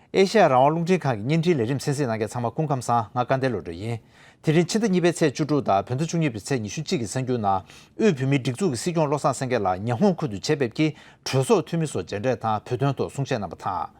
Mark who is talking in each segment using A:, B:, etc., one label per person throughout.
A: ཨེ་ཤ་ཡ་རང་དབང་རླུང་འཕྲིན་ཁང་གི་བརྙན་འཕྲིན་ལས་རིམ་གསན་གཟིགས་གནང་མཁན་ཚང་མ་སྐུ་ཁམས་བཟང་ང་དཀར་འདས་བློ་གྲོས་ཡིན། དེ་རིང་ཕྱི་ཟླ་གཉིས་པའི་ཚེས་བཅུ་དྲུག་དང་བོད་ཟླ་བཅུ་གཉིས་པའི་ཚེས་ཉི་ཤུ་གཅིག་གི་གསར་འགྱུར་ནང་དབུས་བོད་མིའི་སྒྲིག་འཛུགས་ཀྱི་སྲིད་སྐྱོང་བློ་བཟང་སེང་གེ་ལགས་ཉི་ཧོང་ཁུལ་དུ་ཆེད་ཕེབས་ཀྱིས་གྲོས་ཚོགས་འཐུས་མི་སོགས་མཇལ་འཕྲད་དང་བོད་དོན་ཐོག་གསུང་བཤད་གནང་བ་དང།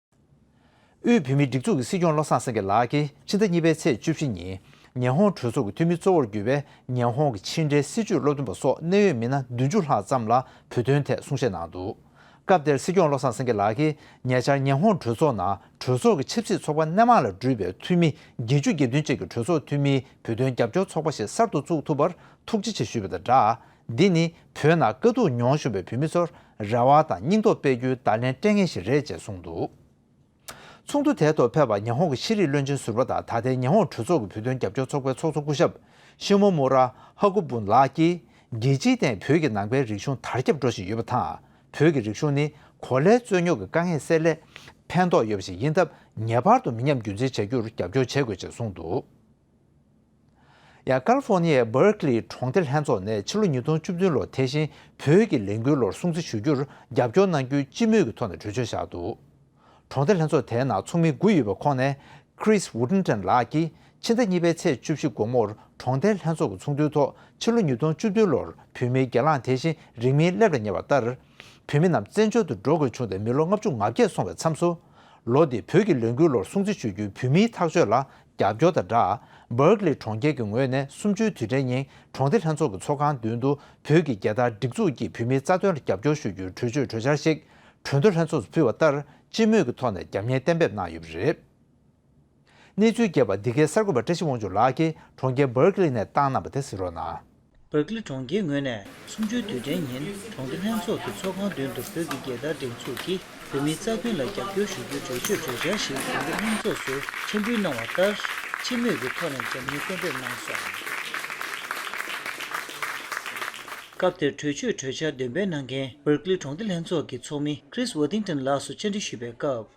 A: དབུས་བོད་མིའི་སྒྲིག་འཛུགས་ཀྱི་སྲིད་སྐྱོང་བློ་བཟང་སེང་གེ་ལགས་ཀྱིས་ཕྱི་ཟླ་གཉིས་པའི་ཚེས་བཅུ་བཞི་ཉིན་ཉན་ཧོང་གྲོས་ཚོགས་ཀྱི་འཐུས་མི་གཙོ་བོར་གྱུར་པའི་ཉན་ཧོང་གི་ཕྱི་འབྲེལ་སྲིད་བྱུས་བློ་མཐུན་པ་སོགས་གནད་ཡོད་མི་སྣ་བདུན་ཅུ་ལྷག་ཙམ་ལ་བོད་དོན་ཐད་གསུང་བཤད་གནང་འདུག་སྐབས་དེར་སྲིད་སྐྱོང་བློ་བཟང་སེང་གེ་ལགས་ཀྱིས་ཉེ་ཆར་ཉན་ཧོང་གྲོས་ཚོགས་ནང་གྲོས་ཚོགས་ཀྱི་ཆབ་སྲིད་ཚོགས་པ་སྣེ་མང་ལ་འདྲུད་པའི་འཐུས་མི་བརྒྱད་ཅུ་བརྒྱད་བདུན་བཅས་ཀྱི་གྲོས་ཚོགས་འཐུས་མིའི་བོད་དོན་རྒྱབ་སྐྱོར་ཚོགས་པ་ཞིག་གསར་དུ་བཙུགས་ཐུབ་པར་ཐུགས་རྗེ་ཆེ་ཞུས་པ་དང་སྦྲགས། འདི་ནི་བོད་ནང་དཀའ་སྡུག་མྱོང་བཞུགས་པའི་བོད་མི་ཚོར་རེ་བ་དང་སྙིང་སྟོབས་སྤེལ་རྒྱུའི་བརྡ་ལན་སྤྲད་མཁན་ཞིག་རེད་ཅེས་གསུངས་འདུག་ཚོགས་འདུ་དེའི་ཐོག་ཕེབས་པ་ཉི་ཧོང་གི་ཤེས་རིག་བློན་ཆེན་ཟུར་པ་དང་ད་ལྟའི་ཉི་ཧོང་གྲོས་ཚོགས་ཀྱི་བོད་དོན་རྒྱབ་སྐྱོར་ཚོགས་པའི་ཚོགས་གཙོ་སྐུ་ཞབས Shimomura Hakubun ལགས་ཀྱིས་རྒྱལ་སྤྱིའི་སྟེང་བོད་ཀྱི་ནང་པའི་རིག་གཞུང་དར་ཁྱབ་འགྲོ་བཞིན་ཡོད་པ་དང་བོད་ཀྱི་རིག་གཞུང་ནི་གོ་ལའི་རྩོད་རྙོག་གི་དཀའ་ངལ་སེལ་སླད་ཕན་ཐོགས་ཡོད་པ་ཞིག་ཡིན་སྟབས་ངེས་པར་དུ་མི་ཉམས་རྒྱུན་འཛིན་བྱ་རྒྱུར་རྒྱབ་སྐྱོར་བྱེད་དགོས་ཅེས་གསུངས་འདུག། ཡང་ཀཱ་ལི་ཧྥོར་ནི་ཡའི་བྷེར་ཀི་ལི་གྲོང་ཁྱེར་ལྷན་ཚོགས་ནས་ཕྱི་ལོ་ཉིས་སྟོང་བཅུ་བདུན་ལོར་དེ་བཞིན་བོད་ཀྱི་ལས་འགུལ་ལོར་སྲུང་བརྩི་ཞུ་རྒྱུར་རྒྱབ་སྐྱོར་གནང་རྒྱུའི་སྤྱི་མོས་ཀྱི་ཐོག་ནས་གྲོས་ཆོད་བཞག་འདུག་གྲོང་སྡེ་ལྷན་ཚོགས་དེའི་ནང་ཚོགས་མི་དགུ་ཡོད་པའི་ཁོངས་ནས Chris Woodenton ལགས་ཀྱིས་ཕྱི་ཟླ་གཉིས་པའི་ཚེས་བཅུ་བཞི་དགོང་མོར་གྲོང་སྡེ་ལྷན་ཚོགས་ཀྱི་ཚོགས་འདུའི་ཐོག་ཕྱི་ལོ་ཉིས་སྟོང་བཅུ་བདུན་ལོར་བོད་མིའི་སྒེར་ལངས་དེ་བཞིན་རིང་མིན་སླེབས་ལ་ཉེ་བ་ལྟར་བོད་མི་རྣམས་བཙན་བྱོལ་དུ་འགྲོ་དགོས་བྱུང་སྟེ་མི་ལོ་ལྔ་བཅུ་ང་བརྒྱད་སོང་བའི་མཚམས་སུལོ་འདིལ་བོད་ཀྱི་ལས་འགུལ་ལོར་སྲུང་བརྩི་ཞུ་རྒྱུའི་བོད་མིའི་ཐག་གཅོད་ལ་རྒྱབ་སྐྱོར་དང་སྦྲགས། Berkeley གྲོང་ཁྱེར་གྱི་ངོས་ནས་གསུམ་བཅུའི་དུས་དྲན་ཉིན་གྲོང་སྡེ་ལྷན་ཚོགས་ཀྱི་ཚོགས་ཁང་མདུན་དུ་བོད་ཀྱི་རྒྱལ་དར་སྒྲིག་འཛུགས་ཀྱིས་བུད་མེད་རྩ་དོན་ལ་རྒྱབ་སྐྱོར་ཞུ་རྒྱུའི་གྲོས་ཆོད་གྲོས་འཆར་ཞིག་གྲོས་མདོ་ལྷན་ཚོགས་སུ་ཕུལ་བ་ལྟར་སྤྱི་མོས་ཀྱི་ཐོག་ནས་རྒྱབ་གཉེར་གཏན་འབེབས་གནང་ཡོད་པ་རེད། གནས་ཚུལ་རྒྱས་པར་འདི་གའི་གསར་འགོད་པ་བཀྲ་ཤིས་དབང་ཕྱུག་ལགས་ཀྱིས་གྲོང་ཁྱེར Berkeley ནས་བཏང་གནང་བ་དེ་གཟིགས་རོགས་གནང། སྦག་ཀླི་གྲོང་
B: ཁྱེར་ངོས་ནས་གསུམ་བཅུའི་དུས་དྲན་ཉིན་གྲོང་སྡེ་ལྷན་ཚོགས་ཀྱི་ཚོགས་ཁང་མདུན་དུ་བོད་ཀྱི་རྒྱལ་དར་སྒྲེང་འཛུགས་ཀྱིས་བོད་མིའི་རྩ་དོན་ལ་རྒྱབ་སྐྱོར་ཞུ་རྒྱུའི་གྲོས་ཆོད་གྲོས་འཆར་ཞིག་གྲོང་སྡེ་ལྷན་ཚོགས་སུ་འཕྲིན་འབུལ་གནང་བ་ལྟར་སྤྱི་མོས་ཀྱི་ཐོག་ནས་འཇམ་མཉེན་གཏན་འབེབས་གནང་སོང། སྐབས་དེར་གྲོས་ཆོད་གྲོས་འཆར་འདོན་སྤེལ་གནང་མཁན་སྦག་ཀླི་གྲོང་སྡེ་ལྷན་ཚོགས་ཀྱི་ཚོགས་མི Chris Worthington ལགས་སུ་བཅར་འདྲི་ཞུས་པའི་སྐབས།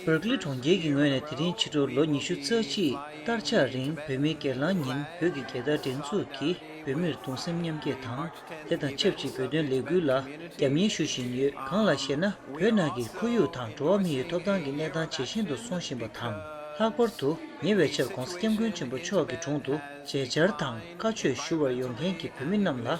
C: Berkeley གྲོང་ཁྱེར་གྱི་ངོས་
B: ནས་དེ་རིང་ཕྱི་དྲོར་ལོ་ཉི་ཤུ་རྩ་གཅིག་སྟར་ཆགས་རིང་བོད་མིའི་སྒེར་ལངས་ཉིན་བོད་ཀྱི་རྒྱལ་དར་བསྒྲེངས་འཛུགས་ཀྱིས་བོད་མིར་གདུང་སེམས་མཉམ་སྐྱེད་དང་དེ་དང་ཆབས་ཅིག་བོད་དོན་ལས་འགུལ་ལ་རྒྱབ་གཉེར་ཞུ་བཞིན་ཡོད་གང་ལགས་ཤེ་ན་བོད་ནང་གི་ཁོར་ཡུག་དང་འགྲོ་བ་མི་ཡི་ཐོབ་ཐང་གི་གནས་སྟངས་ཇེ་ཞན་དུ་སོང་བཞིན་པ་དང་ལྷག་པར་དུ་ཉེ་བའི་ཆར ྋགོང་ས ྋསྐྱབས་མགོན་ཆེན་པོ་མཆོག་གི་དྲུང་དུ་མཇལ་བཅར་དང་བཀའ་ཆོས་ཞུ་བར་ཡོང་མཁན་གྱི་བོད་མི་རྣམས་ལ།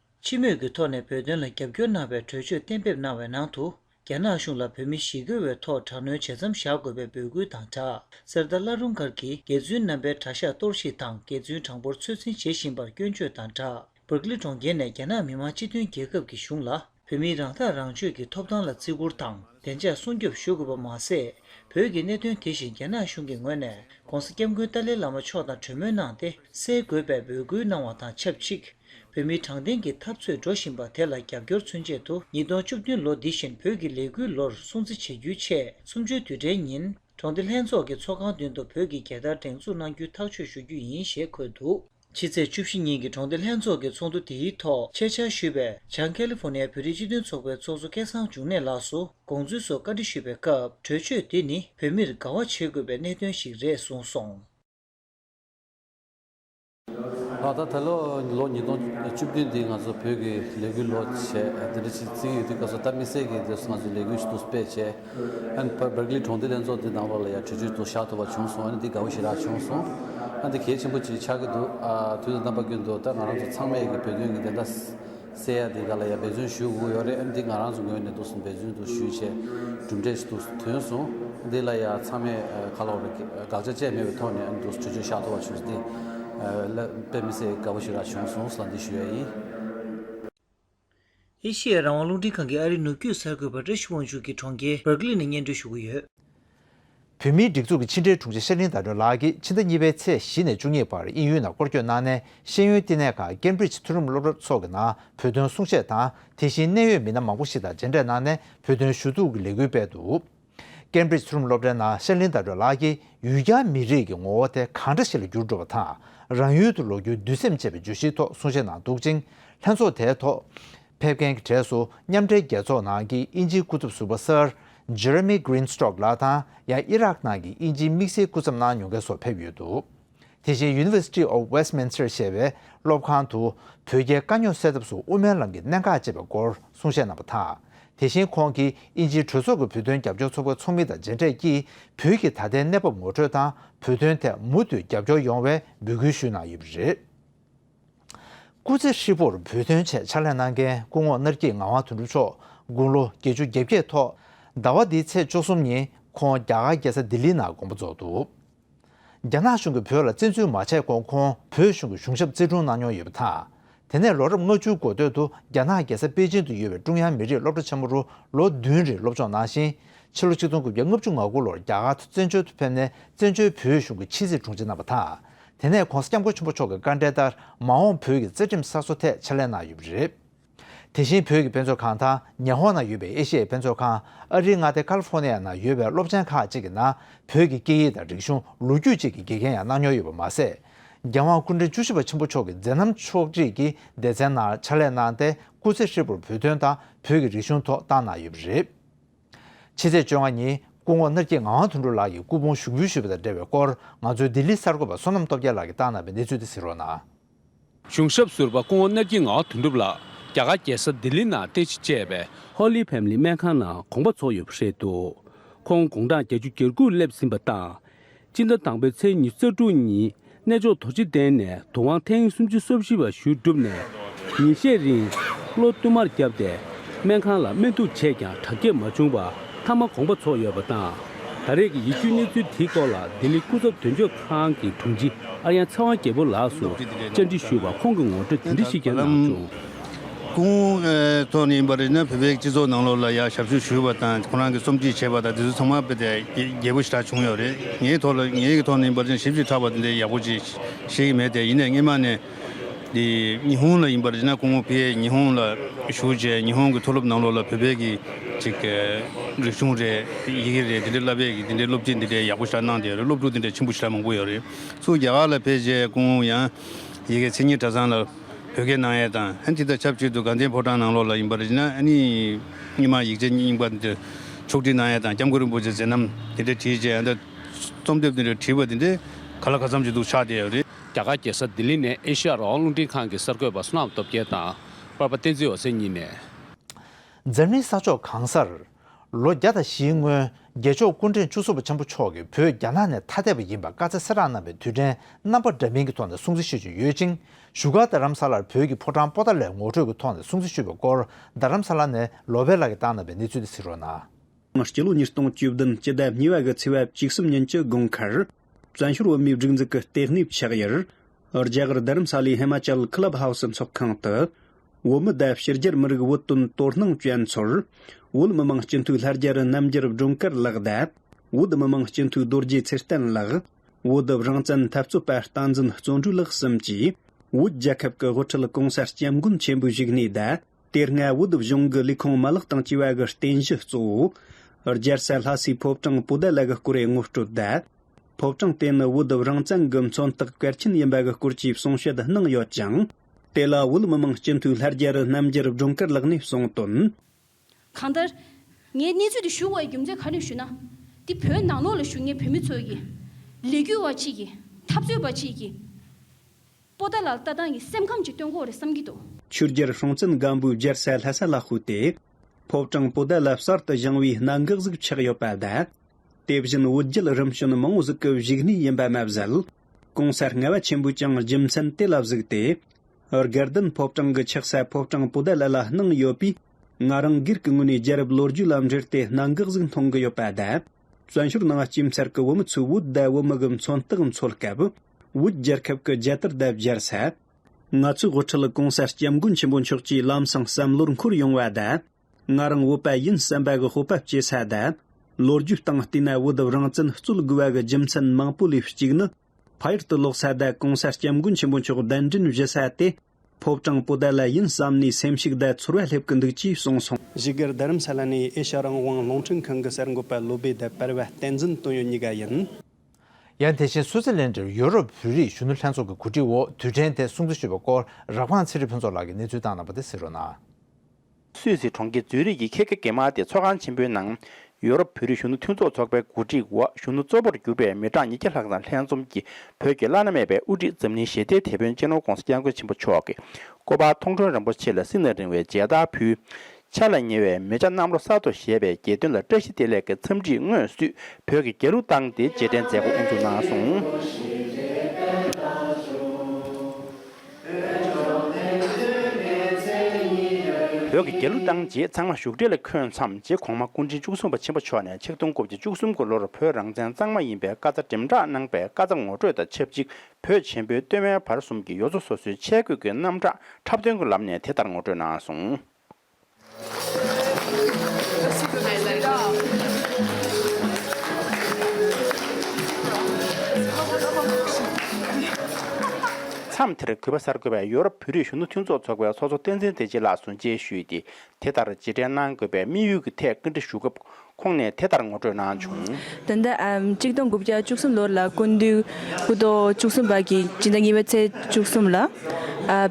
C: སྤྱི་མོས་
B: ཀྱི་ཐོག་ནས་བོད་དོན་ལ་རྒྱབ་སྐྱོར་གནང་བའི་གྲོས་ཆོད་གཏན་འབེབས་གནང་བའི་ནང་དུ་རྒྱ་ནག་གཞུང་ལ་བོད་མི་ཞི་རྒོལ་བའི་ཐོག་དྲག་གནོན་བྱེད་མཚམས་བཞག་དགོས་པའི་འབོད་སྐུལ་དང་སྦྲགས་གསེར་རྟ་བླ་རུང་མཁར་གྱིས་རྒྱལ་བཙུན་རྣམ་པའི་གྲྭ་ཤག་གཏོར་བཤིག་དང་རྒྱལ་བཙུན་གྲངས་འབོར་ཚོད་འཛིན་བྱེད་བཞིན་པར་སྐྱོན་བརྗོད་དང་སྦྲགས་བྷར་ཀླི་གྲོང་ཁྱེར་ནས་རྒྱ་ནག་མི་དམངས་སྤྱི་མཐུན་རྒྱལ་ཁབ་ཀྱི་གཞུང་ལ་བོད་མིའི་རང་ཐག་རང་གཅོད་ཀྱི་ཐོབ་ཐང་ལ་བརྩི་བཀུར་དང་བདེ་འཇགས་སྲུང་སྐྱོབ་ཞུ་དགོས་པ་མ་ཟད་བོད་ཀྱི་གནད་དོན་དེ་བཞིན་རྒྱ་ནག་གཞུང་གི་ངོས་ནས ྋགོང་ས ྋསྐྱབས་མགོན་ཏཱ་ལའི་བླ་མ་མཆོག་དང་གྲོས་མོལ་གནང་སྟེ་སེལ་དགོས་པའི་འབོད་སྐུལ་གནང་བ་དང་ཆབས་ཅིག་བོད་མིའི་དྲང་བདེན་གྱི་འཐབ་རྩོད་འགྲོ་བཞིན་པ་དེ་ལ་རྒྱབ་སྐྱོར་ཚུན་ཆད་དུ་ཉིས་སྟོང་བཅུ་བདུན་ལོ་འདི་བཞིན་བོད་ཀྱི་ལས་འགུལ་ལོར་སྲུང་བརྩི་བྱེད་རྒྱུའི་ཆེད་གསུམ་བཅུའི་དུས་དྲན་ཉིན་གྲོང་སྡེ་ལྷན་ཚོགས་ཀྱི་ཚོགས་ཁང་མདུན་དུ་བོད་ཀྱི་རྒྱལ་དར་སྒྲེང་འཛུགས་གནང་རྒྱུའི་ཐག་གཅོད་ཞུ་རྒྱུ་ཡིན་ཞེས་འཁོད་འདུག་ཕྱི་ཚེས་བཅུ་བཞི་ཉིན་གྱི་གྲོང་སྡེ་ལྷན་ཚོགས་ཀྱི་ཚོགས་འདུ་དེའི་ཐོག་ཆེད་བཅར་ཞུས་པའི་བྱང་ཀེ་ལི་ཧྥོ་ནེ་ཡའི་བོད་རིགས་སྤྱི་མཐུན་ཚོགས་པའི་ཚོགས་གཙོ་སྐལ་བཟང་འབྱུང་གནས་ལགས་སུ་དགོངས་ཚུལ་སོགས་བཀའ་འདྲི་ཞུས་པའི་སྐབས་གྲོས་ཆོད་དེ་ནི་བོད་མིར་དགའ་བ་བྱེད་དགོས་པའི་གནད་དོན་ཞིག་རེད་གསུངས་སོང།
D: ད་ལྟ་ད་ལོ་ལོ་ཉིས་སྟོང་བཅུ་བདུན་འདི་ང་ཚོ་བོད་ཀྱི་ལས་འགུལ་ལོ་བྱས་དེ་འདྲ་ཆིག་བརྩེགས་ཡོད་དུས་སྐབས་སུ་སྟག་མི་སེར་གྱིས་དེ་ང་ཚོའི་ལས་འགུལ་ཞུ་གཏུག་སྤེལ་བྱས་ཨན་བྷར་བྷར་གླི་གྲོང་སྡེ་ལྷན་ཚོགས་འདི་ནང་ལོགས་ལ་ཡང་གྲོས་ཆོད་དུ་བཞག་ཐུབ་པ་བྱུང་སོང་ཨ་ནི་འདི་དགའ་བོ་ཞིག་རག་བྱུང་སོང་ཨ་འདི་གལ་ཆེན་པོ་ཅིག་ཆགས་ཀྱི་འདུག་ཨ་དུས་ད་རྣམ་པ་ཀུན་ཏུ་ད་ང་རང་ཚོ་ཚང་མས་ཀྱི་བོད་དོན་གྱི་བདེན་མཐའ་སེ་ཡ་འདི་ག་ལ་ཡང་འབད་བརྩོན་ཞུས་དགོས་ཡོད་རེད་འདི་ང་རང་ཚོའི་ངོས་ནས་འདུག་སོང་འབད་བརྩོན་དུ་ཞུས་བྱས་གྲུབ་འབྲས་སུ་ཐོན་སོང་འདི་ལ་ཡང་ཚང་མས་ཁ་ལོ་རེ་དགག་བྱ་བཅས་མེད་པའི་ཐོག་ནས་འདུག་ཆུ་ཆུ་ཤ་ཐོ་བ་ཆུ་སྟེང་ལ་དཔེ་མི་སྲིད་དགའ་པོ་ཞིག་རག་བྱུང་སོང་ས་འདི་ཞུ་ཡ་ཡིན།
B: ཨེ་ཤེ་ཡ་རང་དབང་རླུང་འཕྲིན་ཁང་གི་ཨ་རིའི་ནུབ་རྒྱུད་གསར་འགོད་པ་བཀྲ་ཤིས་དབང་ཕྱུག་གིས་གྲོང་ཁྱེར Berkeley ནས་སྙན་སྒྲོན་ཞུ་གི་ཡོད། བོད་
A: མིའི་སྒྲིག་འཛུགས་ཀྱི་ཕྱི་འབྲེལ་དྲུང་ཆེ་ཤེར་གླིང་ཟླ་སྒྲོན་ལགས་ཀྱིས་ཕྱི་ཟླ་གཉིས་པའི་ཚེས་བཞི་ནས་བཅུ་གཉིས་བར་དབྱིན་ཡུལ་ནང་སྐོར་སྐྱོད་གནང་ནས་ཤེས་ཡོན་བསྟི་གནས་ཁང་ཀེམ་བྷྲིཇ་མཐུན་རུམ་སློབ་གྲྭ་སོགས་ཀྱི་ནང་བོད་དོན་གསུང་བཤད་དང་དེ་བཞིན་གནད་ཡོད་མི་སྣ་མང་པོ་ཞིག་དང་མཇལ་འཕྲད་གནང་ནས་བོད་དོན་ཞུ་གཏུག་གི་ལས་འགུལ་སྤེལ་འདུག་ཀེམ་བྷྲིཇ་མཐུན་རུམ་སློབ་གྲྭའི་ནང་ཤེར་གླིང་ཟླ་སྒྲོན་ལགས་ཀྱིས་ཡུལ་གྱར་མི་རིགས་ཀྱི་ངོ་བོ་དེ་གང་འདྲ་ཞིག་ལ་འགྱུར་འགྲོ་བ་དང་རང་ཡུལ་དུ་ལོག་རྒྱུའི་འདུན་སེམས་ཅེས་པའི་བརྗོད་གཞིའི་ཐོག་གསུང་བཤད་གནང་འདུག་ཅིང་ལྷན་ཚོགས་དེའི་ཐོག་ཕེབས་མཁན་གྱི་གྲས་སུ་མཉམ་འབྲེལ་རྒྱལ་ཚོགས་ནང་གི་དབྱིན་ཇིའི་སྐུ་ཚབ་ཟུར་པ་སིར Jeremy Greenstock ལགས་དང་ཡང་ཨི་རག་ནང་གི་དབྱིན་ཇིའི་དམིགས་བསལ་སྐུ་ཚབ་གནང་མྱོང་མཁན་སོགས་ཕེབས་ཡོད་འདུག་དེ་བཞིན University of Westminster ཞེས་པའི་སློབ་ཁང་དུ་བོད་རྒྱའི་དཀའ་རྙོག་སེལ་ཐབས་སུ་དབུ་མའི་ལམ་གྱི་གནད་འགག་ཅེས་པའི་སྐོར་གསུང་བཤད་གནང་པ་དང། དེ་བཞིན་ཁོང་གིས་དབྱིན་ཇིའི་གྲོས་ཚོགས་ཀྱི་བོད་དོན་རྒྱབ་སྐྱོར་ཚོགས་པའི་ཚོགས་མི་དང་མཇལ་འཕྲད་ཀྱིས་བོད་ཀྱི་ད་ལྟའི་གནས་བབ་ངོ་སྤྲོད་དང་བོད་དོན་ཐད་མུ་མཐུད་རྒྱབ་སྐྱོར་ཡོང་བའི་འབོད་སྐུལ་ཞུས་གནང་ཡོད་པ་རེད། སྐུ་ཚེ་ཧྲིལ་པོར་བོད་དོན་ཆེད་ཕྱག་ལས་གནང་མཁན་སྐུ་ངོ་སྣར་སྐྱིད་ངག་དབང་དོན་གྲུབ་མཆོག་དགུང་ལོ་བརྒྱད་ཅུ་བརྒྱད་བརྒྱད་ཐོག་ཟླ་བ་འདིའི་ཚེས་བཅུ་གསུམ་ཉིན་ཁོང་རྒྱ་གར་རྒྱལ་ས་ལྡི་ལི་ནང་དགོངས་པ་རྫོགས་འདུག་རྒྱ་ནག་གཞུང་གིས་བོད་ལ་བཙན་འཛུལ་མ་བྱས་གོང་ཁོང་བོད་གཞུང་གི་གཞུང་ཞབས་བརྩི་སྒྲུང་གནང་མྱོང་ཡོད་པ་དང། དེ་ནས་ལོ་རབས་ལྔ་བཅུའི་འགོ་སྟོད་དུ་རྒྱ་ནག་རྒྱལ་ས་པེ་ཅིན་དུ་ཡོད་པའི་ཀྲུང་དབྱང་མི་རིགས་སློབ་གྲྭ་ཆེན་མོ་རུ་ལོ་བདུན་རིང་སློབ་སྦྱོང་གནང་ཞིང་ཕྱི་ལོ་ཆིག་སྟོང་དགུ་བརྒྱ་ལྔ་བཅུ་ང་དགུ་ལོར་རྒྱ་གར་དུ་བཙན་བྱོལ་དུ་ཕེབས་ནས་བཙན་བྱོལ་བོད་གཞུང་གི་ཕྱི་སྲིད་དྲུང་ཆེ་གནང་བ་དང་དེ་ནས ྋགོང་ས ྋསྐྱབས་མགོན་ཆེན་པོ་མཆོག་གི་བཀའ་འབྲེལ་ལྟར་མ་འོངས་བོད་ཀྱི་རྩེ་ཁྲིམས་གསར་བཟོ་ཐད་ཕྱག་ལས་གནང་ཡོད་པ་རེད། དེ་བཞིན་བོད་ཀྱི་དཔེ་མཛོད་ཁང་དང་ཉི་ཧོང་ན་ཡོད་པའི་ཨེ་ཤི་ཡའི་དཔེ་མཛོད་ཁང་ཨ་རིའི་མངའ་སྡེ་ཀཱ་ལི་ཧྥོ་ནི་ཡ་ན་ཡོད་པའི་སློབ་ཆེན་ཁག་ཅིག་གི་ནང་བོད་ཀྱི་སྐད་ཡིག་དང་རིག་གཞུང་ལོ་རྒྱུས་བཅས་ཀྱི་དགེ་རྒན་ཡང་གནང་མྱོང་ཡོད་པ་མ་ཟད། རྒྱལ་དབང་སྐུ་ཕྲེང་བཅུ་བཞི་པ་ཆེན་པོ་མཆོག་གི་མཛད་རྣམ་ཕྱོགས་བསྒྲིགས་ཀྱི་སྡེ་ཚན་ནང་ཕྱག་ལས་གནང་སྟེ་སྐུ་ཚེ་ཧྲིལ་པོར་བོད་དོན་དང་བོད་ཀྱི་རིག་གཞུང་ཐོག་བཏང་གནང་ཡོད་པ་རེད། ཕྱི་ཚེས་བཅོ་ལྔ་ཉིན་སྐུ་ངོ་སྣར་སྐྱིད་ངག་དབང་དོན་གྲུབ་ལགས་ཀྱི་སྐུ་ཕུང་ཞུགས་འབུལ་ཞུས་པ་དང་འབྲེལ་བའི་སྐོར་ང་ཚོའི་ལྡི་ལི་གསར་འགོད་པ་བསོད་ནམས་སྟོབས་རྒྱལ་ལགས་ཀྱིས་བཏང་གནང་བའི་གནས་ཚུལ་འདི་གཟིགས་རོགས་གནང། གཞུང་
E: ཞབས་ཟུར་པ་སྐུ་ངོ་སྣར་སྐྱིད་ངག་དོན་གྲུབ་ལགས་རྒྱ་གར་རྒྱལ་ས་ལྡི་ལི་ནང་རྟེན་གཞི་བཅས་པའི་ཧོ་ལི་ཕེམ་ལི་སྨན་ཁང་ནང་དགོངས་པ་ཚོགས་ཡོད་པ་རེད་འདུག་ཁོང་དགུང་གྲངས་བརྒྱད་ཅུ་གྱར་འགུགས་སླེབས་ཟིན་པ་དང། སྤྱི་ཟླ་དང་པོའི་ཚེས་ཉི་ཙག་དྲུག་ཉིན་གནས་མཆོག་དོ་སྤྱི་གདན་ནས་དུ་དབང་ཐེངས་སུམ་ཅུ་སོ་བཞི་བ་ཞུས་གྲུབ་ནས་ཉིན་ཤས་རིང་གློ་བསྟུད་མར་བརྒྱབ་སྟེ་སྨན་ཁང་ལ་སྨན་བསྡུ་བྱས་ཀྱང་དྲག་སྐྱེད་མ་བྱུང་བར་མཐའ་མ་གོང་པ་ཚོགས་ཡོད་པ་དང། ད་རེས་ཀྱི་ཡིད་སྐྱོའི་གནས་ཚུལ་དེའི་སྐོར་ལ་ལྡི་ལི་སྐུ་ཚབ་དོན་གཅོད་ཁང་གི་དྲུང་ཆེ་ཨ་ཡན་ཚེ་དབང་རྒྱལ་པོ་ལགས་སུ་བཅར་འདྲི་ཞུས་པར་ཁོང་གིས་ངོ་སྤྲོད་དེ་འདྲ་ཞིག་ཀྱང་གནང་བྱུང། ཀུན།
F: ཐོག་ནས་ཡིན་པ་རེད་ན་བོད་པའི་སྤྱི་ཚོགས་ནང་ལོགས་ལ་ཡང་ཞབས་ཞུ་ཞུས་པ་དང་ཁོང་རང་གི་རྩོམ་བྲིས་བྱས་པ་དང་དེ་ཚོ་ཚང་མ་དཔེ་དེ་རྒྱས་པོ་ཞེ་དྲག་བྱུང་ཡོད་རེད་ངའི་ཐོག་ལ་ངའི་གི་ཐོག་ནས་ཡིན་པ་རེད་ན་ཞིབ་ཅིག་ཕྲག་པ་དེ་འདྲའི་ཡག་པོ་ཅིག་ཤེས་ཀྱི་མེད་དེ་ཡིན་ནས་སྔེན་མ་ནས། འདི་ཉི་ཧོང་ལ་ཡིན་པ་རེད་ན་ཀུན་ཧོ་ཕི་ཡེ་ཉི་ཧོང་ལ་བཞུགས་རྗེས་ཉི་ཧོང་གི་མཐོ་སློབ་ནང་ལོགས་ལ་བོད་པའི་གི་ཅིག་རིག་གཞུང་རེད་ཡི་གེ་རེད་དེ་འདྲའི་བསླབ་པའི་གི་དེ་འདྲའི་སློབ་ཁྲིད་འདི་འདྲའི་ཡག་པོ་ཞེ་དྲག་གནང་དེ་ཡོད་རེད་སློབ་ཕྲུག་དེ་འདྲའི་ཆེན་པོ་ཞེ་དྲག་མང་པོ་ཡོད་རེད་སུ་རྒྱ་གར་ལ་ཕེབས་རྗེས་ཀུན་ཧོ་ཡང་ཡི་གེ་མཚན་ཉིད་གྲྭ་ཚང་ལ། བོད་སྐད་ནང་ཡས་དང་ཧན་ཐི་དང་ཆབས་ཅིག་ཏུ་དགའ་ལྡན་ཕོ་བྲང་ནང་ལོགས་ལ་ཡིན་པར་གཞི་ན་རྙིང་མ་ཡིག་ཆ་རྙིང་པ་འདིར་ཕྱོགས་བསྒྲིགས་གནང་ཡས་དང་སྐྱབས་མགོན་རིན་པོ་ཆེ་ཟེར་ནམ་དེ་འདྲས་བྲིས་རྗེས་ཨ་མདའ། རྩོམ་དེབ་འདི་འདྲས་བྲིས་པ་འདི་འདྲས་ག་ལ་ག་ཚམ་གྱི་འདུག་ཆགས་བསྡད་ཡོད་རེད། རྒྱ་གར་རྒྱལ་ས་ལྡི་
E: ལི་ནས་ཨེ་ཤི་ཡ་རོགས་རླུང་འཕྲིན་ཁང་གི་གསར་འགོད་པ་སུ་ནག་སྟོབས་རྒྱལ་དང་དཔར་པ་བསྟན་འཛིན་འོད་ཟེར་གཉིས་ནས། འཛམ་
A: གླིང་ས་ཕྱོགས་གང་སར། ལོ་བརྒྱ་དང་བཞིའི་སྔོན་རྒྱལ་མཆོག་སྐུ་འཕྲེང་བཅུ་གསུམ་པ་ཆེན་པོ་མཆོག་གིས་བོད་རྒྱ་ནག་ནས་ཐ་དད་པ་ཡིན་པར་བཀའ་སྩལ་སེ་རག་གནང་བའི་དུས་དྲན་རྣམ་པ་འདྲ་མིན་གྱི་ཐོག་ནས་སྲུང་བརྩི་ཞུ་བཞིན་ཡོད་ཅིང་བཞུགས་སྒར་རྡ་རམ་ས་ལར་བོད་ཀྱི་ཕོ་བྲང་སྤོ་སྟངས་ལས་ངོ་སྤྲོད་ཀྱི་ཐོག་ནས་སྲུང་བརྩི་ཞུས་པའི་སྐོར་རྡ་རམ་ས་ལ་ནས་ལོ་བྷེ་ལགས་ཀྱིས་བཏང་གནང་བའི་གནས་ཚུལ་དེ་གཟིགས་རོགས་གནང། སྤྱི་ལོ་ཉིས་
G: སྟོང་བཅུ་བདུན་ཕྱི་ཟླ་གཉིས་པ་གི་ཚེས་བབ་བཅུ་གསུམ་ཉིན་གྱི་དགོང་ཁར། བཙན་བྱོལ་བོད་མིའི་སྒྲིག་འཛུགས་ཀྱི་ལྟེ་གནས་ཕྱག་དབྱར་རྒྱ་གར་རྡ་རམ་ས་ལའི་ཧི་མ་ཅལ་ཀི་ལབ་ཧའོ་སི་འཚོགས་ཁང་དུ། བོད་མི་ཟླ་ཕྱི་རྒྱལ་མི་རིགས་བོད་དོན་དོ་སྣང་བྱེད་མཚོར། བོད་མི་མང་སྤྱི་འཐུས་ལྷ་རྒྱལ་རྣམ་རྒྱལ་སྒྲོན་དཀར་ལགས་དང། བོད་མི་མང་སྤྱི་འཐུས་རྡོ་རྗེ་ཚེ་བརྟན་ལགས། བོད་བདག་རང་བཙན་འཐབ་རྩོད་པ་རྟ་འཛིན་བརྩོན་འགྲུས་ལགས་གསུམ་གྱིས། བོད་རྒྱལ་ཁབ་ཀྱི་དབུ་ཁྲིད་གོང་གསལ་སྐྱབས་མགོན་ཆེན་པོའི་བཞུགས་གནས་བདག། དེ་སྔ་བོད་དུ་གཞུང་གི་ལས་ཁུངས་མ་ལག་དང་སྤྱི་བའི་གི་རྟེན་གཞི་གཙོ་བོ། རྒྱལ་སྲས་ལྷ་སའི་ཕོ་བྲང་སྤུ་ཟླ་ལ་གི་སྐོར་ཡི་ངོ་སྤྲོད་དེ། ཕོ་བྲང་དེ་ནི་བོད་དུ་རང་བཙན་གི་མཚོན་རྟགས་གལ་ཆེན་ཡིན་པའི་གི་སྐོར་གྱི་གསུང་བཤད་གནང་ཡོད་ཅིང། དེ་ལ་བོད་མི་མང་སྤྱི་འཐུས་ལྷ་རྒྱལ་རི་རྣམ་རྒྱལ་སྒྲོན་དཀར་ལགས་ནས་གསུང་དོན། གང་ལྟར།
H: ངས་གནས་ཚུལ་འདི་ཞུ་བའི་རྒྱུ་མཚན་ག་རེ་ཞུ་ན། འདི་བོད་ནང་ལོགས་ལ་བཞུགས་ངེས་བོད་མི་ཚོའི་གི། ལས་རྒྱུ་བ་གཅིག་གི། འཐབ་རྩོད་པ་གཅིག་གི། པོ་ཏཱ་ལ་ལྟ་སྟངས་ཀྱི་སེམས་ཁམས་ཀྱི་སྟོན་འཁོར་རེད་བསམ་གྱི་འདུག། ཆུ་རྒྱལ་ཧྲོང་ཙན་
G: སྒམ་པོའི་རྒྱལ་ས་ལྷ་ས་ལ་ཤོད་དེ། ཕོ་བྲང་པོ་ཏཱ་ལ་གསར་དུ་བཞེངས་བའི་གནད་འགག་ཟིག་ཆགས་ཡོད་པ་ལ། དེ་བཞིན་བོད་རྒྱལ་རིམ་བྱོན་མང་བོ་ཟིག་གི་བཞུགས་གནས་ཡིན་པ་མ་ཟད། གོང་ས་ལྔ་བ་ཆེན་པོས་ཀྱང་རྒྱུ་མཚན་དེ་ལ་གཟིགས་ཏེ། སྒེར་བདུན་ཕོ་བྲང་གི་ཆགས་ས་ཕོ་བྲང་པོ་ཏཱ་ལ་ལ་གནང་ཡོད་པས། ང་རང་སྒེར་གྱི་ངོས་ནས་རྒྱལ་རབས་ལོ་རྒྱུས་ལ་འབྲེལ་ཏེ་གནད་འགག་ཟིག་མཐོང་གི་ཡོད་པ་དང། བཙན་བྱོལ་ནང་སྐྱིབས་མཚར་གི་བུ་མོ་ཚོས་བོད་དད་བུ་མི་གི་མཚོན་རྟགས་འཚོལ་སྐབས། བོད་རྒྱལ་ཁབ་ཀྱི་རྒྱལ་དར་དེབ་སྦྱར་ས། ང་ཚོའི་དབུ་ཁྲིད་གོང་ས་སྐྱབས་མགོན་ཆེན་པོ་མཆོག་ཀྱིས་ལམ་སང་བསམ་བློར་འཁོར་ཡོང་བ་དང། ང་རང་བོད་པ་ཡིན་བསམ་པ་གི་སྤོབས་པ་སྐྱེ་ས་དང། ལོ་རྒྱུས་སྟེང་བལྟས་ན་བོད་དབུ་རང་བཙན་རྩོད་དགོས་བ་གི་རྒྱུ་མཚན་མང་པོ་ལས་གཅིག་ནི། ཕ་ཡུལ་དུ་ལོག་ས་དང་གོང་ས་སྐྱབས་མགོན་ཆེན་པོ་མཆོག་གདན་འདྲེན་བཞི་ས་དེ། ཕོབ་ཀྱང་སྤུ་ཟླ་ལ་ཡིན་བསམ་ནས་སེམས་ཤུགས་ཟླ་ཚོར་བ་སླེབས་ཀྱི་འདུག་ཅེས་གསུངས་སོང། གཞིས་སྒར་རྡ་རམ་ས་ལ་ནས་ཨེ་ཤ་རང་དབང་རླུང་འཕྲིན་ཁང་གི་གསར་འགོད་པ་བློ་སྦེ་ལྡེ་པར་བ་བསྟན་འཛིན་བཏོན་ཡོད་གཉིས་ཀ་ཡིན། ཡང་དེ་
A: བཞིན་སུའུ་ཙི་ལན་འདྲེར་ཡོ་རོབ་བོད་རིགས་གཞོན་ནུ་ལྷན་ཚོགས་ཀྱི་གོ་སྒྲིག་འོག་དུས་དྲན་དེ་སྲུང་བརྩི་ཞུས་པའི་སྐོར་རག་ཕང་ཚེ་རིང་ཕུན་ཚོགས་ལགས་ཀྱིས་གནས་ཚུལ་བཏང་གནང་པ་དེ་གསལ་རོགས་གནང། སུད་
I: སི་གྲོང་ཁྱེར་ཛུ་རིག་གི་ཁེ་ཁེ་གེ་མ་ཏེ་ཚོགས་ཁང་ཆེན་པོའི་ནང། ཡུ་རོབ་བོད་རིགས་གཞོན་ནུ་མཐུན་ཚོགས་ཚོགས་པའི་གོ་སྒྲིག་འོག་གཞོན་ནུ་གཙོ་པོར་གྱུར་པའི་མི་གྲངས་ཉིས་བརྒྱ་ལྷག་དང་ལྷན་འཛོམས་ཀྱིས་བོད་ཀྱི་བླ་ན་མེད་པའི་དབུ་ཁྲིད་འཛམ་གླིང་ཞི་བདེའི་དེད་དཔོན་གཅེས་ནོར ྋགོང་ས ྋསྐྱབས་མགོན་ཆེན་པོ་མཆོག་གི་སྐུ་པར་མཐོང་གྲོལ་རིན་པོ་ཆེ་ལ་སྲིད་ན་རིང་བའི་མཇལ་དར་ཕུལ། འཆར་ལ་ཉེ་བའི་མི་བྱ་གནམ་ལོ་གསར་ཐོ་ཞེས་པའི་དགྱེས་སྟོན་ལ་བཀྲ་ཤིས་བདེ་ལེགས་ཀྱི་འཚམས་འདྲིས་སྔོན་བསུས་བོད་ཀྱི་རྒྱལ་གླུ་བཏང་སྟེ་རྗེས་དྲན་མཛད་སྒོ་དབུ་འཛུགས་གནང་སོང། བོད་ཀྱི་རྒྱལ་གླུ་བཏང་རྗེས་ཚང་མ་བཞུགས་གྲལ་ལ་འཁོད་མཚམས་རྗེ་གོང་མ་སྐུ་ཕྲེང་བཅུ་གསུམ་པ་ཆེན་པོ་མཆོག་ནས་ཆིག་སྟོང་དགུ་བརྒྱ་བཅུ་གསུམ་དགུ་ལོར་བོད་རང་བཙན་གཙང་མ་ཡིན་པའི་བཀའ་རྩ་འགྲེམས་བསྒྲགས་གནང་པའི་བཀའ་རྩ་ངོ་སྤྲོད་དང་ཆབས་ཅིག་བོད་ཆེན་པོའི་སྟོད་སྨད་བར་གསུམ་གྱི་ཡོ་རྫོ་སོ་སོའི་ཆས་གོས་ཀྱི་རྣམ་གྲངས་འཁྲབ་སྟོན་གྱི་ལམ་ནས་དེ་ལྟར་ངོ་སྤྲོད་གནང་སོང། མཚམས་དེར་གུས་པ་གསར་འགོད་པས་ཡོ་རོབ་བོད་རིགས་གཞོན་ནུ་མཐུན་ཚོགས་ཚོགས་པའི་ཚོགས་གཙོ་བསྟན་འཛིན་བདེ་སྐྱིད་ལགས་སུ་མཇལ་ཞུས་ཏེ་དེ་ལྟར་རྗེས་དྲན་གནང་དགོས་པའི་དམིགས་ཡུལ་གྱི་ཐད་བཀའ་འདྲི་ཞུ་སྐབས་ཁོང་ནས་དེ་ལྟར་ངོ་སྤྲོད་གནང་བྱུང། ད་ལྟ་ཨ་གཅིག་
J: དང་དགུ་བརྒྱ་བཅུ་གསུམ་ལོར་ལ་སྐུ་མདུན་སྐུ་ཐོག་བཅུ་གསུམ་པ་གྱི་སྤྱི་ཟླ་གཉིས་པའི་ཚེས་བཅུ་གསུམ་ལ་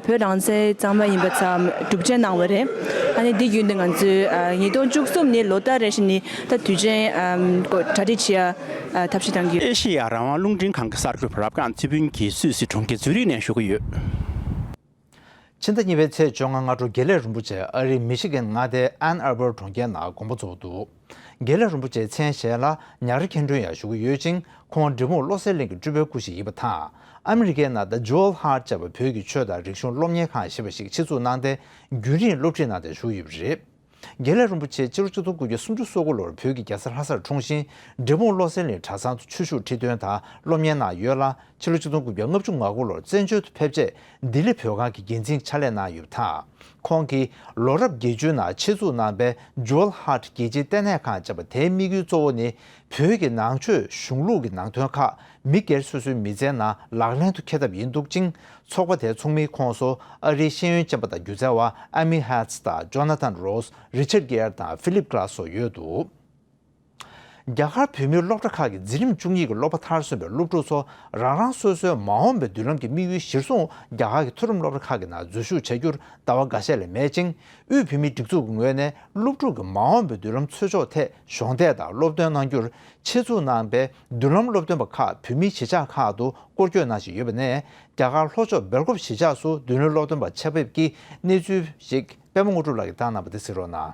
J: བོད་རང་བཙན་གཙང་མ་ཡིན་པ་ཚང་གྲུབ་ཆེན་གནང་བ་རེད། ད་ནི་འདི་བརྒྱུད་ནས་ང་ཚོས་ཉིས་སྟོང་བཅུ་གསུམ་ནི་ལོ་སྟག་རེ་བཞིན་ནི་ད་དུས་ཆེན་གོ་གྲ་སྒྲིག་བྱེད་ཡ་ཐབས་ཤེས་གཏང་རྒྱུ། ཨེ་ཤེ་ཡ་རང་དབང་རླུང་
I: འཕྲིན་ཁང་གི་གསར་འགོད་པ་རབ་འབྲང་རྩེ་ཕུན་གྱིས་སུད་སི་གྲོང་ཁྱེར་ཛུ་རིག་ནས་ཞུ་གི་ཡོད། ཕྱི་ཟླ་
A: གཉིས་པའི་ཚེས་བཅོ་ལྔ་སྔ་དྲོ་དགེ་ལེགས་རིན་པོ་ཆེ་ཨ་རིའི་མི་ཤི་གི་མངའ་སྡེ Ann Arbor གྲོང་ཁྱེར་ན་དགོང་པོ་འཛོགས་འདུག་དགེ་ལེགས་རིན་པོ་ཆེས་མཚན་གཞས་ལ་ཉག་རི་ཁེན་ཁྲོན་ཡང་ཞུགས་ཀྱི་ཡོད་ཅིང་ཁོང་འབྲི་གུང་བློ་གསལ་གླིང་གི་སྤྲུལ་པའི་སྐུ་ཞིག་ཡིན་པ་དང་ཨ་མི་རི་ཀའི་ནང The Jewel Heart བཅས་པ་བོད་ཀྱི་ཆོས་དང་རིག་གཞུང་སློབ་གཉེར་ཁང་ཞེས་པ་ཞིག་ཕྱི་ཚུལ་གནང་སྟེ་རྒྱུན་རིང་སློབ་ཁྲིད་གནང་སྟེ་བཞུགས་ཡོད་པ་རེད། དགེ་ལེགས་རིན་པོ་ཆེ་སྤྱི་ལོ་བཅུ་ཚང་དགུ་བརྒྱ་སུམ་ཅུ་སོ་དགུ་ལོར་བོད་ཀྱི་རྒྱལ་ས་ལྷ་སར་འཁྲུངས་ཤིང་འབྲས་སྤུངས་བློ་གསལ་ལས་གྲྭ་ཚང་དུ་ཆོས་ཞུགས་ཁྲི་སྟོན་དང་སློབ་གཉེར་གནང་ཡོད་ལ་ཕྱི་ལོ་བཅུ་ཚང་དགུ་བརྒྱ་ལྔ་བཅུ་ང་དགུ་ལོར་བཙན་བྱོལ་དུ་ཕེབས་རྗེས་ལྡི་ལི་བོད་ཁང་གི་འགན་འཛིན་ཕྱག་ལས་གནང་ཡོད་པ་དང། ཁོང་གིས་ལོ་རབས་བརྒྱད་ཅུའི་ནང་ཆེད་འཛུགས་གནང་པའི Jewel Heart རྒྱལ་སྤྱིའི་ལྟེ་གནས་ཁང་བཅས་པ་དེའི་དམིགས་ཡུལ་གཙོ་བོ་ནི་བོད་ཀྱི་ནང་ཆོས་གཞུང་ལུགས་ཀྱི་ནང་དོན་ཁག་མི་སྒེར་སོ་སོའི་མི་ཚེའི་ནང་ལག་ལེན་དུ་འཁེལ་ཐབས་ཡིན་འདུག་ཅིང་ཚོགས་པ་དེའི་ཚོགས་མིའི་ཁོངས་སུ་ཨ་རིའི་ཤེས་ཡོན་ཅན་པ་དང་སྒྱུ་རྩལ་བ Amy Hertz དང Jonathan Rose Richard Gere དང Philip Glass སོགས་ཡོད་འདུག་རྒྱ་གར་བོད་མིའི་སློབ་གྲྭ་ཁག་གི་འཛིན་རིམ་བཅུ་གཉིས་ཀྱི་སློབ་པ་མཐར་སོན་པའི་སློབ་ཕྲུག་ཚོ་རང་རང་སོ་སོའི་མ་འོངས་པའི་མདུན་ལམ་གྱི་དམིགས་ཡུལ་གཞིར་བཟུང་རྒྱ་གར་གྱི་མཐོ་རིམ་སློབ་གྲྭ་ཁག་གི་ནང་འཛུལ་ཞུགས་བྱ་རྒྱུར་ལྟ་བ་འགའ་ཤས་ལས་མེད་ཅིང་དབུས་བོད་མིའི་སྒྲིག་འཛུགས་ཀྱི་ངོས་ནས་སློབ་ཕྲུག་གི་མ་འོངས་པའི་མདུན་ལམ་འཚོལ་ཕྱོགས་ཐད་གཞོགས་འདེགས་དང་སློབ་སྟོན་གནང་རྒྱུར་ཆེད་འཛུགས་གནང་པའི་མདུན་ལམ་སློབ་སྟོན་པ་ཁག་བོད་མིའི་གཞིས་ཆགས་ཁག་ཏུ་སྐོར་སྐྱོད་གནང་བཞིན་ཡོད་པ་ནས་རྒྱ་གར་ལྷོ་ཕྱོགས་སྦེལ་ཀོབ་གཞིས་ཆགས་སུ་མདུན་ལམ་སློབ་སྟོན་པ་ཆེད་ཕེབས་ཀྱི་གནས་ཚུལ་ཞིག་པད་མ་དངོས་གྲུབ་ལགས་ཀྱིས་བཏང་གནང་བ་དེ་གཟིགས་རོགས་གནང།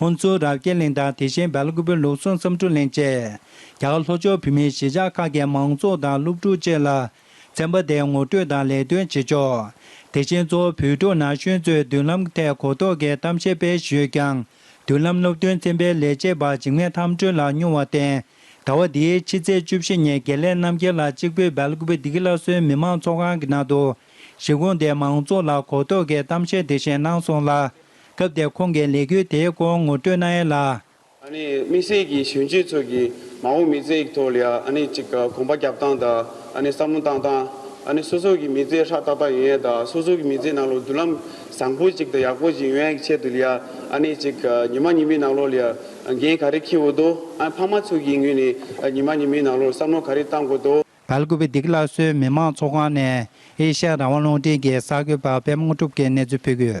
K: ཧོན་ཚུའུ་རབ་རྒྱས་གླིང་དང་དེ་བཞིན་སྦལ་ཀུ་པོའི་ལུགས་ཟུང་བསམ་འཕྲུལ་གླིང་བཅས། རྒྱ་གར་ལྷོ་ཕྱོགས་བོད་མིའི་གཞིས་ཆགས་ཁག་གི་མང་ཚོགས་དང་སློབ་ཕྲུག་བཅས་ལ། ཚན་པ་དེས་ངོ་སྤྲོད་དང་ལས་དོན་བྱེད་ཕྱོགས། དེ་བཞིན་གཙོ་བོ་བོད་ཕྲུག་ན་གཞོན་ཚོའི་མདུན་ལམ་ཐད་གོ་རྟོགས་ཀྱི་གཏམ་བཤད་སྤེལ་ཞོད་ཀྱང། མདུན་ལམ་སློབ་སྟོན་ཚན་པའི་ལས་བྱེད་པ་འཇིགས་མེད་ཐམ་སྒྲོལ་ལགས་མྱོང་བར་བརྟེན། ཟླ་བ་འདིའི་ཕྱི་ཚེས་བཅུ་བཞི་ཉིན་དགེ་ལེགས་རྣམ་རྒྱལ་ལགས་གཅིག་པུས་སྦལ་ཀུ་པོ་སྡེ་དགེ་སླར་གསོའི་མི་མང་ཚོགས་ཁང་གི་ནང་དུ། གཞིས་ཁོངས་དེའི་མང་ཚོགས་ལ་གོ་རྟོགས་ཀྱི་གཏམ་བཤད་འདི་བཞིན་གནང་སོང་ལ། སྐབས་དེར་ཁོང་གིས་ལས་འགུལ་དེའི་སྐོར་ངོ་སྤྲོད་གནང་ཡོད་ལ། དམིགས་
L: བསལ་གྱིས་གཞོན་སྐྱེས་ཚོ་གིས་མ་འོངས་མི་ཚེའི་ཐོག་ལ་གཅིག་གོམ་པ་རྒྱབ་སྟངས་དང་བསམ་བློ་བཏང་སྟངས། སོ་སོ་གི་མི་ཚེ་ཧྲག་ཏག་ཏག་ཡིན་ཡང་དང་སོ་སོ་གི་མི་ཚེའི་ནང་ལོགས་མདུན་ལམ་བཟང་པོ་ཅིག་དང་ཡག་པོ་ཞིག་ཡོང་ཡག་གི་ཆེད་དུ་ལ་གཅིག་ཉི་མ་ཉི་མའི་ནང་ལོགས་ལ་འགན་ག་རེ་འཁྱེར་འོས་དོ། ཕ་མ་ཚོ་གི་ངོས་ནས་ཉི་མ་ཉི་མའི་ནང་ལོགས་བསམ་བློ་ག་རེ་བཏང་དགོས་དོ། ག་ལ་ཀུ་བེ་སྡིག་སླར་
K: གསོའི་མི་དམངས་ཚོགས་ཁང་ནས་ཨེ་ཤ་ཡ་རང་དབང་རླུང་འཕྲིན་གྱི་གསར་འགོད་པར་དཔལ་དམངས་གྲུབ་ཀྱིས་གནས་ཚུལ་
A: ཕུལ།